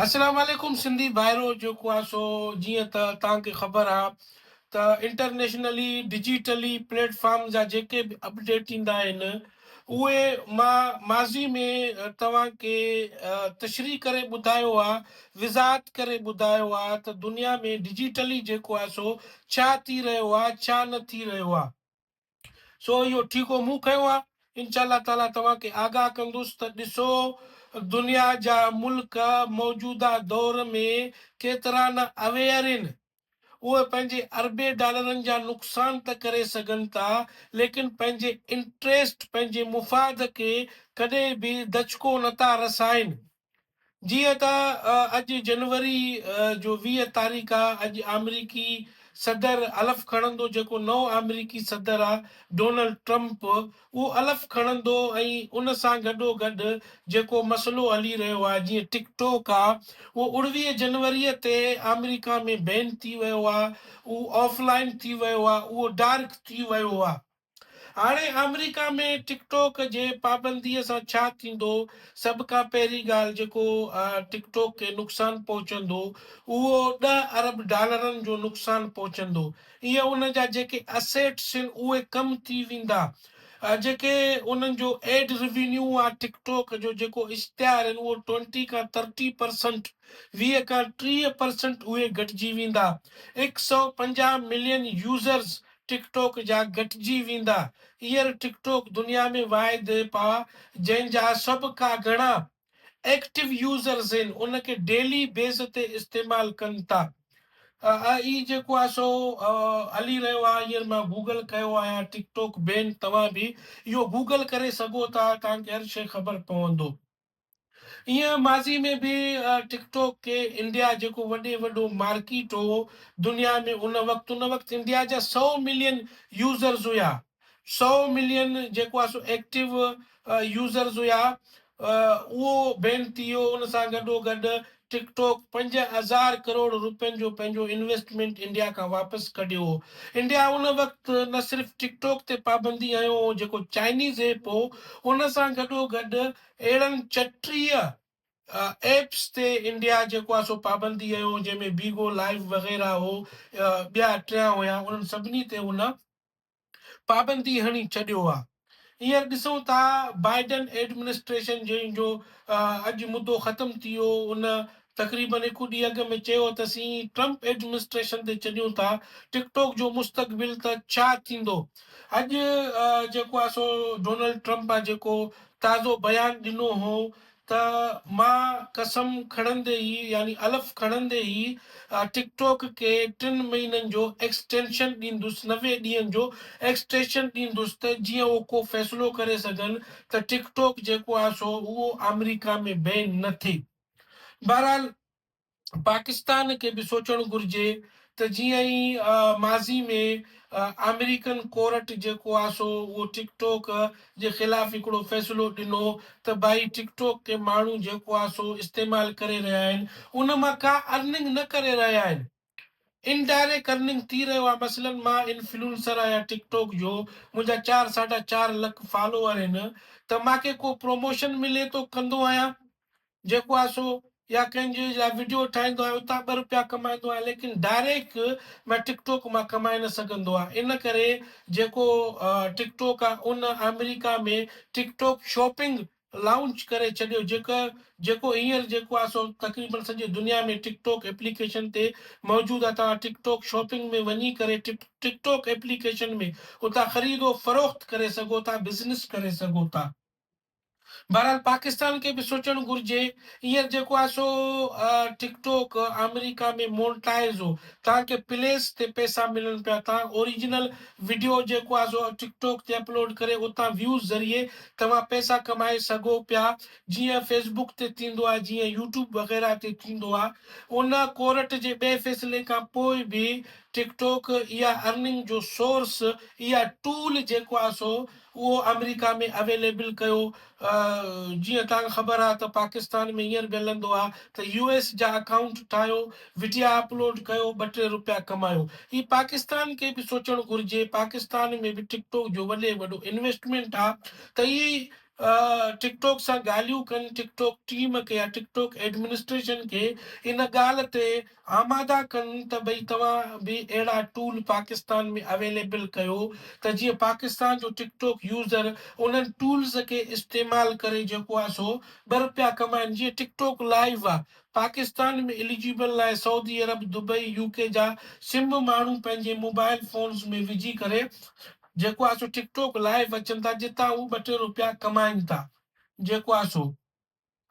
السلام عليڪم سنڌي ڀائرو جيڪو آ سو جيئن ته تان کي خبر آ ته انٽرنيشنلي ڊجيٽلي پليٽ فارم جا جيڪي به اپڊيٽ ايندا آهن اهي مان ماضي ۾ توهان کي تشريح ڪري ٻڌايو آ وضاحت ڪري ٻڌايو آ ته دنيا ۾ ڊجيٽلي جيڪو آ سو ڇا ٿي رهيو آ ڇا نه ٿي رهيو آ. سو اهو ٺيڪو مون کنيو آهي. انشاء الله تعاليٰ توهان کي آگاهه ڪندس ته ڏسو دنيا جا ملڪ موجوده دور ۾ ڪيترا نه اويئر ان. اهي پنهنجي اربين ڊالرن جا نقصان ته ڪري سگهن ٿا ليڪن پنهنجي انٽريسٽ، پنهنجي مفاد کي ڪڏهن به دچڪو نه ٿا رسائين. جيئن ته اڄ جنوري جو ويهه تاريخ آ اڄ آمريڪي صدر الف کڻندو جيڪو نئون آمريڪي صدر آ ڊونلڊ ٽرمپ اهو الف کڻندو ۽ ان سان گڏو گڏ جيڪو مسئلو هلي رهيو آ جيئن ٽڪ ٽوڪ آ اهو اڻويهه جنوري تي آمريڪا ۾ بين ٿي ويو آ اهو آف لائين ٿي ويو آ اهو ڊارڪ ٿي ويو آ. هاڻي آمريڪا ۾ ٽڪ ٽوڪ جي پابندي سان ڇا ٿيندو؟ سڀ کان پهرين ڳالهه جيڪو ٽڪ ٽوڪ کي نقصان پهچندو اهو ڏهه ارب ڊالرن جو نقصان پهچندو ۽ ان جا جيڪي اسيٽس آهن اهي ڪم ٿي ويندا جيڪي انهن جو ايڊ روينيو آ ٽڪ ٽوڪ جو جيڪو اشتهار آهن اهو ٽوئنٽي کان ٿرٽي پرسنٽ ويهه کان ٽيهه پرسنٽ اهي گهٽجي ويندا هڪ سئو پنجاهه ملين يوزرز ٽڪ ٽوڪ جا گهٽجي ويندا. هينئر ٽڪ ٽوڪ دنيا ۾ واحد ايپ آ جنهن جا سڀ کا گهڻا ايڪٽو يوزرز هين ان کي ڊيلي بيس تي استعمال ڪن ٿا اهي جيڪو آ سو هلي رهيو آ هينئر مان گوگل ڪيو آهيان ٽڪ ٽوڪ بين توهان به اهو گوگل ڪري سگهو ٿا توهان کي هر شي خبر پوندو. ايئن ماضي ۾ به ٽڪ ٽوڪ کي انڊيا جيڪو وڏي وڏو مارڪيٽ هو دنيا ۾ ان وقت ان وقت انڊيا جا سؤ ملين يوزرز هيا سؤ ملين جيڪو آهي سو ايڪٽو يوزرز هيا اهو بين ٿي ويو ان سان گڏو گڏ ٽڪ ٽاڪ پنج هزار ڪروڙ روپين جو پنهنجو انويسٽمينٽ انڊيا کان واپس ڪڍيو هو. انڊيا ان وقت نه صرف ٽڪ ٽاڪ تي پابندي هنيو هو جيڪو چائنيز ايپ هو، ان سان گڏوگڏ اهڙن چٽيهه ايپس تي انڊيا جيڪو آهي سو پابندي هنيو هو جنهن ۾ بيگو لائيو وغيره هو ٻيا ٽيان هيا انهن سڀني تي هن پابندي هڻي ڇڏيو آ. هينئر ڏسون ٿا بائيڊن ايڊمنسٽريشن جنهن جو اڄ مدو ختم ٿي ويو ان تقريبن هڪ ڏينهن اڳ ۾ چيو ته اسين ٽرمپ ايڊمنسٽريشن تي ڇڏيون ٿا ٽڪ ٽوڪ جو مستقبل ته ڇا ٿيندو اڄ جيڪو آ سو ڊونلڊ ٽرمپ آ جيڪو تازو بيان ڏنو هو ته مان قسم کڻندي ئي يعني الف کڻندي ئي ٽڪ ٽوڪ کي ٽن مهينن جو ايڪسٽينشن ڏيندس، نوي ڏينهن جو ايڪسٽيشن ڏيندس ته جيئن هو ڪو فيصلو ڪري سگهن ته ٽڪ ٽوڪ جيڪو آهي سو اهو آمريڪا ۾ بين نه ٿئي. بهرحال. پاڪستان کي به سوچڻ گهرجي ته جيئن ئي ماضي ۾ آمريڪن ڪورٽ جيڪو آ سو اهو ٽڪ ٽوڪ جي خلاف هڪڙو فيصلو ڏنو ته ڀائي ٽڪ ٽوڪ کي ماڻهو جيڪو آ سو استعمال ڪري رهيا آهن ان مان ڪا ارننگ نه ڪري رهيا آهن ان ڊائريڪ ارننگ ٿي رهيو آ مثلن مان انفلونسر آهيان ٽڪ ٽوڪ جو منهنجا چار ساڍا چار لک فالوور آهن ته مانکي ڪو پروموشن ملي ٿو ڪندو آهيان جيڪو آهي سو يا ڪنهن جي لاء وڊيو ٺاهيندو آهيان اتان ٻه روپيا ڪمائيندو آهيان ليڪن ڊائريڪ مان ٽڪ ٽوڪ مان ڪمائي نه سگهندو آهيان ان ڪري جيڪو ٽڪ ٽوڪ آهي ان آمريڪا ۾ ٽڪ ٽوڪ شاپنگ لانچ ڪري ڇڏيو جيڪو جيڪو هينئر جيڪو آهي سو تقريبن سڄي دنيا ۾ ٽڪ ٽوڪ ايپليڪيشن تي موجود آهي توهان ٽڪ ٽوڪ شاپنگ ۾ وڃي ڪري ٽڪ ٽڪ ٽوڪ ايپليڪيشن ۾ اتان خريد و فروخت ڪري سگهو ٿا بزنس ڪري سگهو ٿا. بهرحال پاڪستان کي به سوچڻ گهرجي هينئر جيڪو آهي سو ٽڪ ٽوڪ آمريڪا ۾ مونٽائز هو تانڪه پليس تي پئسا ملن پيا تان اوريجنل وڊيو جيڪو آهي سو ٽڪ ٽوڪ تي اپلوڊ ڪري اتان ويوز ذريعي توهان پئسا ڪمائي سگهو پيا جيئن فيسبوڪ تي ٿيندو آهي جيئن يوٽيوب وغيره تي ٿيندو آهي ان ڪورٽ جي ٻئي فيصلي کان پوء به ٽڪ ٽوڪ اها ارننگ جو سورس اها ٽول جيڪو آهي سو اهو آمريڪا ۾ اويليبل ڪيو جيئن توهان کي خبر آهي ته پاڪستان ۾ هينئر به هلندو آهي ته يو ايس جا اڪائونٽ ٺاهيو وڊيا اپلوڊ ڪيو ٻه ٽي روپيا ڪمايو هي پاڪستان کي به سوچڻ گهرجي پاڪستان ۾ به ٽڪ ٽوڪ جو وڏي وڏو انويسٽمينٽ آهي ته اهي ٽڪ ٽوڪ سان ڳالهيون ڪن ٽڪ ٽوڪ ٽيم کي يا ٽڪ ٽوڪ ايڊمنسٽريشن کي ان ڳالهه تي آماده ڪن ته ڀئي توهان به اهڙا ٽول پاڪستان ۾ اويليبل ڪيو ته جيئن پاڪستان جو ٽڪ ٽوڪ يوزر انهن ٽولز کي استعمال ڪري جيڪو آهي سو ٻه رپيا ڪمائن جيئن ٽڪ ٽوڪ لائيو آهي پاڪستان ۾ اليجيبل لاء سعودي عرب دبئي يوڪي جا سم ماڻهو پنهنجي موبائل فونز ۾ وجهي ڪري جيڪو آهي سو ٽڪ ٽوڪ لائيو اچن ٿا جتان هو ٻه ٽي رپيا ڪمائن ٿا جيڪو آهي سو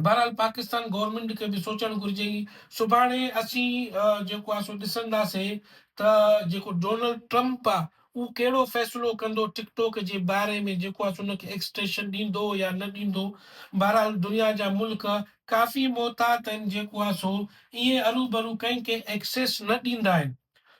بهرحال پاڪستان گورنمينٽ کي به سوچڻ گهرجي ئي سڀاڻي اسين جيڪو آهي سو ڏسنداسي ته جيڪو ڊونلڊ ٽرمپ آهي اهو ڪهڙو فيصلو ڪندو ٽڪ ٽوڪ جي باري ۾ جيڪو آهي سو ان کي ايڪسٽيشن ڏيندو يا نه ڏيندو بهرحال دنيا جا ملڪ ڪافي محتاط آهن جيڪو آهي سو ائين اروبرو ڪنهن کي ايڪسيس نه ڏيندا آهن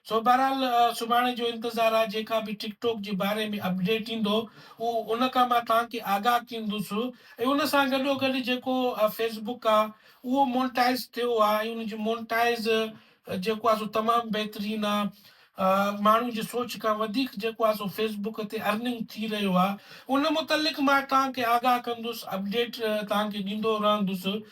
سو بهرحال سڀاڻي جو انتظار آهي جيڪا به ٽڪ ٽاڪ جي باري ۾ اپڊيٽ ايندو اهو ان کان مان توهان کي آگاهه ڪندس ۽ ان سان گڏو گڏ جيڪو فيس بڪ آهي اهو مونٽائز ٿيو آهي ۽ ان جي مونٽائز جيڪو آهي سو تمام بهترين آهي ماڻهو جي سوچ کان وڌيڪ جيڪو آهي سو فيس بڪ تي ارننگ ٿي رهيو آهي ان متعلق مان توهان کي آگاهه ڪندس اپڊيٽ توهان کي ڏيندو رهندس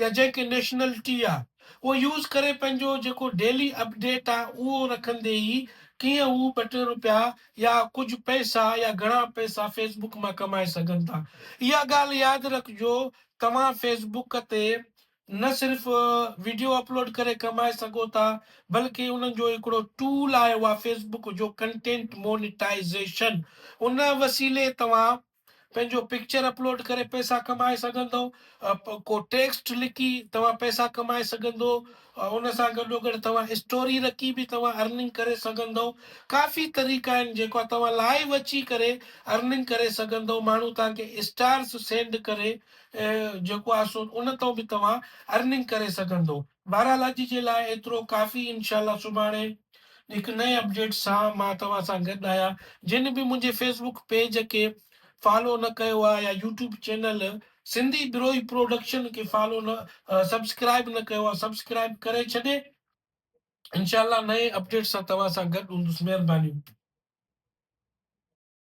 يا جنهن کي نيشنلٽي آ اهو يوز ڪري پنهنجو جيڪو ڊيلي اپڊيٽ آ اهو رکندي ئي ڪيئن هو ٻه ٽي روپيا يا ڪجهه پئسا يا گهڻا پئسا فيس بڪ مان ڪمائي سگهن ٿا اها ڳالهه ياد رکجو توهان فيس بڪ تي نه صرف ويڊيو اپلوڊ ڪري ڪمائي سگهو ٿا بلڪه انهن جو هڪڙو ٽول آيو آ فيس بڪ جو ڪنٽينٽ مونيٽائيزيشن ان وسيلي توهان پنهنجو پڪچر اپلوڊ ڪري پئسا ڪمائي سگهندؤ ڪو ٽيڪسٽ لکي توهان پئسا ڪمائي سگهندؤ ان سان گڏو گڏ توهان اسٽوري رکي به توهان ارننگ ڪري سگهندؤ ڪافي طريقا آهن جيڪا توهان لائيو اچي ڪري ارننگ ڪري سگهندؤ ماڻهو توهان کي اسٽارس سينڊ ڪري جيڪو آهي سو ان تان به توهان ارننگ ڪري سگهندؤ بهرحال اڄ جي لاء ايترو ڪافي انشاء الله سڀاڻي هڪ نئين اپڊيٽ سان مان توهان سان گڏ آهيان جن به منهنجي فيس بوڪ پيج کي فالو نه ڪيو آهي يا YouTube channel Sindhi Brohi production کي فالو نه سبسڪرائب نه ڪيو آهي سبسڪرائب ڪري ڇڏي انشاءالله نئين اپڊيٽ سان توهان سان گڏ هوندس مهرباني